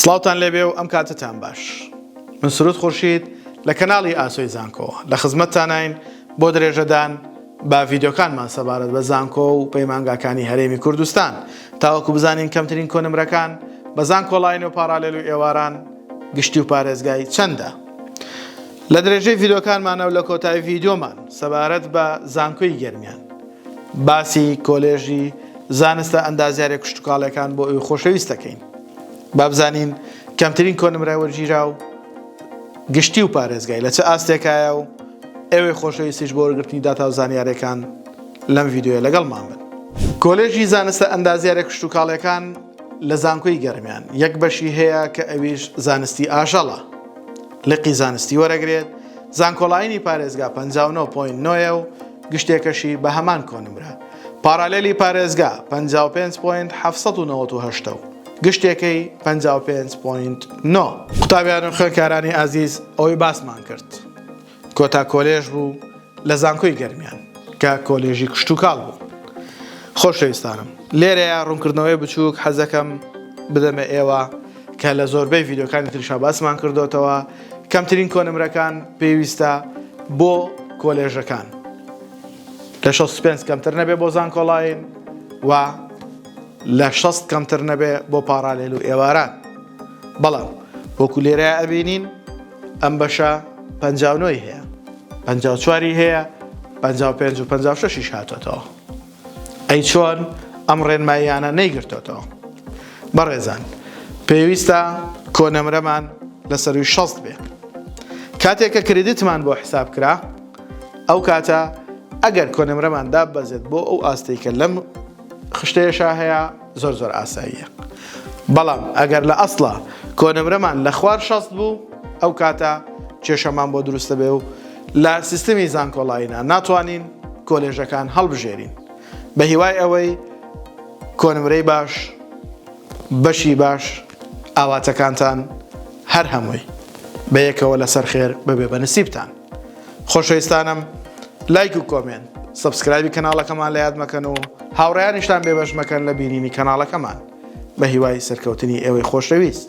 سڵاوتان لێبێ و ئەم کاتەتان باش. من سرود خورشید لە کەناڵی ئاسۆی زانکۆوە لە خزمەتتاناین بۆ درێژەدان بە ڤیدیۆکانمان سەبارەت بە زانکۆ و پەیمانگاکانی هەرێمی کوردستان تاوەکو بزانین کەمترین کۆنمرەکان بە زانکۆڵاین و پاڕالێل و ئێواران گشتی و پارێزگای چەندە لە درێژەی ڤیدۆکانمانە و لە کۆتای ڤیدۆمان سەبارەت بە زانکۆی گەرمیان باسی کۆلێژی زانستە ئەندازیارە کوشتتوکاڵەکان بۆ ئەوی خۆشەویستەکەین. بابزانین کەمترین کۆنمرای وەرگیراو گشتی و پارێزگای لە چ ئاستێکایە و ئێوەی خۆشەویستیش بۆ وەرگرتنی داتا و زانیارەکان لەم ڤیددیوە لەگەڵمان بن. کۆلێژی زانستە ئەندازیارە کشتوکاڵیەکان لە زانکۆی گەرمیان یەک بەشی هەیە کە ئەویش زانستی ئاژەڵە لقی زانستی وەرەگرێت زانکۆڵاینی پارێزگا 59.9 و گشتێکەشی بە هەمان کۆنمرە پارالێلی پارێزگا پەنجا و پێنج پۆینت حەفت سەد و نەوەد و هەشت و گشتێکەی پەنجا و پێنج پۆینت نۆ. قوتابیان و خوێندکارانی ئازیز ئەوەی باسمان کرد کۆتا کۆلێژ بوو لە زانکۆی گەرمیان کە کۆلێژی کشتوکاڵ بوو. خۆشەویستانم لێرەیە ڕوونکردنەوەی بچووک حەزەکەم بدەمە ئێوە کە لە زۆربەی ڤیدیۆکانی تریشا باسمان کردوتەوە کەمترین کۆنمرەکان پێویستە بۆ کۆلێژەکان. لە شەست و پێنج کەمتر نەبێ بۆ زانکۆڵاین و لە شەست کەمتر نەبێ بۆ پاڕالێل و ئێواران بەڵام وەکو لێرە ئەبینین ئەم بەشە پنجاونۆی هەیە پنجا چواری هەیە پ پێ و پ شش هاتۆتەوە ئەی چۆن ئەم ڕێنماییانە نەیگرتۆتەوە بەڕێزان پێویستە کۆنەمرەمان لەسەروی شەست بێ کاتێک کە کردیتمان بۆ حساب کرا ئەو کاتە ئەگەر کۆنمرەمان داببەزێت بۆ ئەو ئاستەی کە لەم خشتەیەشا هەیە زۆر زۆر ئاساییە بەڵام ئەگەر لە ئەسڵا کۆنمرەمان لە خوار شەست بوو ئەو کاتە کێشەمان بۆ دروستە بێ و لە سیستمی زانکۆڵایینا ناتوانین کۆلێژەکان هەڵبژێرین بە هیوای ئەوەی کۆنمرەی باش بەشی باش ئاواتەکانتان هەر هەمووی بەیەکەوە لەسەر خێر ببێ بە نسیبتان خۆشەویستانم لایک و کۆمێنت سبسکرایبی کەناڵەکەمان لە یاد مەکەن و هاوڕیانیشتان بێبەش مەکەن لە بینینی کەناڵەکەمان بە هیوای سەرکەوتنی ئێوەی خۆشەویست.